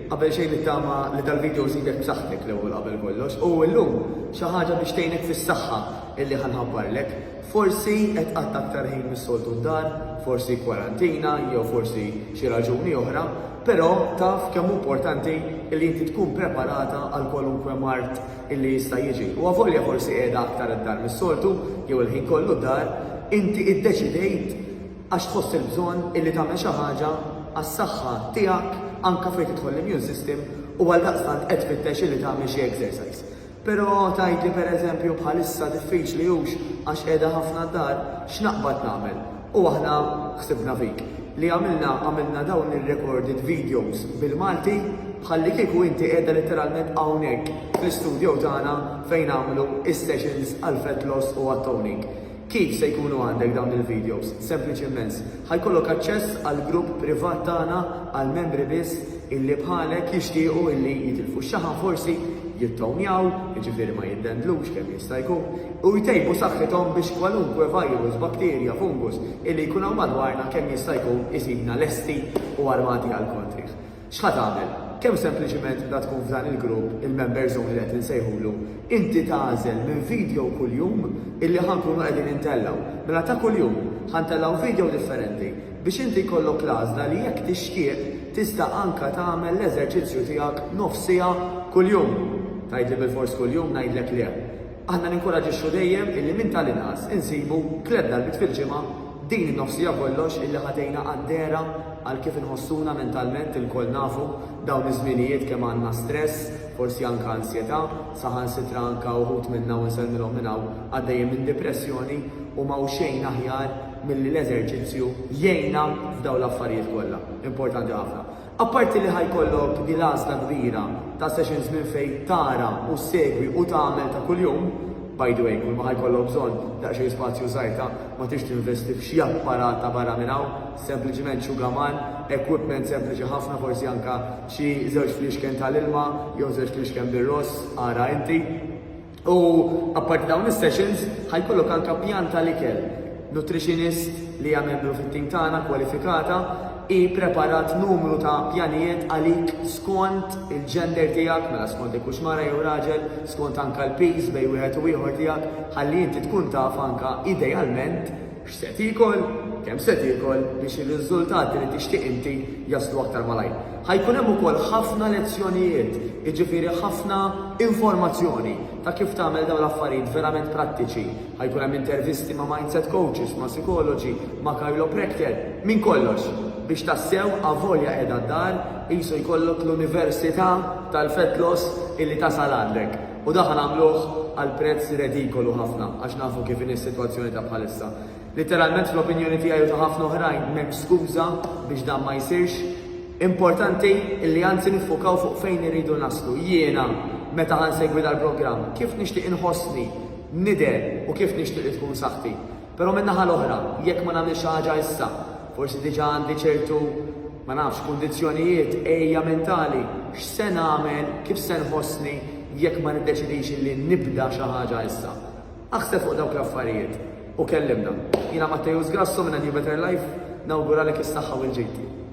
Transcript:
Qabel xejn nittama li dal-video żidek b'saħħtek l-ewwel qabel kollox u llum xi ħaġa biex tgħinek fis-saħħa illi ħa nħabbarlek. Forsi qed tqatta' aktar ħin mis-soltu d-dar, forsi kwarantina jew forsi xi raġuni oħra, però taf kemm hu importanti illi inti tkun preparata għal kwalunkwe mard illi jista' jiġi. U avolja forsi qiegħda aktar d-dar mis-soltu jew il-ħin kollu d-dar, inti iddeċidejt, Għax tħoss il-bżonn illi tagħmel xi ħaġa għas-saħħa tiegħek anke fejn tidħol l-immune system u għaldaqstant qed tfittex illi tagħmel xi exercise. Però tgħid li pereżempju bħalissa diffiċli hux għax qiegħda ħafna d-dar, x'naqbad nagħmel? U aħna ħsibna fik. Li għamilna għamilna dawn ir-recorded videos bil-Malti bħallikieku inti qiegħda letteralment hawnhekk fl-istudjo tagħna fejn nagħmlu is-sessions għall-fat loss u għat-toning. Kif se jkunu għandek dawn il-videos? Sempliċi immens. Ħa jkollok aċċess għall-grupp privat tagħna għall-membri biss illi bħalek jixtiequ illi jitilfu x-xaħam forsi, jittownjaw, jiġifieri ma jiddendlux kemm jista' jkun, u jtejbu saħħithom biex kwalunkwe virus, bakterja, fungus illi jkun hawn madwarna kemm jista' jkun isibna lesti u armati għall-kontrih. X'ħa tagħmel? Kemm sempliċiment bda tkun f'dan il-grupp, il-members only qed insejħulu, inti tagħżel minn video kuljum illi ħa nkunu qegħdin intellgħu. Mela ta' kuljum, ħa ntellgħu video differenti biex inti jkollok l-għażla li jekk tixtieq tista' anke tagħmel l-eżerċizzju tiegħek nofs siegħa kuljum. Tgħidli bilfors kuljum ngħidlek le. Aħna ninkoraġixxu dejjem illi minn tal-inqas insibu tliet darbiet fil-ġimgħa din in-nofs siegħa kollox illi ħa tgħinna qaddera għal kif inħossuna mentalment, ilkoll nafu dawn iż-żminijiet kemm għandna stress, forsi anke ansjetà, saħansitra anke uħud minna u nsellmilhom minn hawn għaddejjin minn dipressjoni u m'hawn xejn aħjar milli l-eżerċizzju jgħinna f'dawn l-affarijiet kollha importanti ħafna. Apparti li ħa jkollok din l-għażla kbira ta' sessions minn fejn tara u ssegwi u tagħmel ta' kuljum, by the way, kulma ħa jkollok bżonn daqsxejn spazju żgħir ta' ma tridx tinvesti f'xi apparat ta' barra minn hawn, sempliċiment xugaman, equipment sempliċi ħafna forsi anke xi żewġ fliexken tal-ilma jew żewġ fliexken bir-ross, ara inti. U apparti dawn is-sessions, ħa jkollok anke pjan tal-ikel. Nutritionist li hija membru fit-tim tagħna kwalifikata, hi ppreparat numru ta' pjanijiet għalik skont il-gender tiegħek, mela skont jekk hux mara jew raġel, skont anke l-piż bejn wieħed u ieħor tiegħek, ħalli inti tkun taf anke idealment, X'se tiekol, kemm se tiekol biex ir-riżultati li tixtieq inti jaslu aktar malajr. Ħa jkun hemm ukoll ħafna lezzjonijiet, jiġifieri ħafna informazzjoni ta' kif tagħmel dawn l-affarijiet verament prattiċi. Ħa jkun hemm intervisti ma' mindset coaches, ma' sikoloġi, ma' chiropractor, minn kollox biex tassew avolja qiegħda d-dar qisu jkollok l-università tal-fat loss illi tasal għandek. U dak nagħmluh għal prezz redikolu ħafna għax nafu kif inhi s-sitwazzjoni ta' bħalissa. Litteralment fl-opinjoni tiegħi u ta' ħafna oħrajn m'hemmx skuża biex dan ma jsirx. Importanti li anzi niffukaw fuq fejn irridu naslu. Jiena meta ħa nsegwi dal-programm, kif nixtieq inħossni, nidher u kif nixtieq li tkun saħħti. Però min-naħa l-oħra, jekk ma nagħmilx xi ħaġa issa, forsi diġà għandi ċertu Ma nafx, kundizzjonijiet, għejja mentali, x'se nagħmel, kif se nħossni jekk ma niddeċidix li nibda xi ħaġa issa. Aħseb fuq dawk l-affarijiet u kellimna. Jiena Matteus Grasso minn A New Better Life, nawguralek is-saħħa u l-ġid.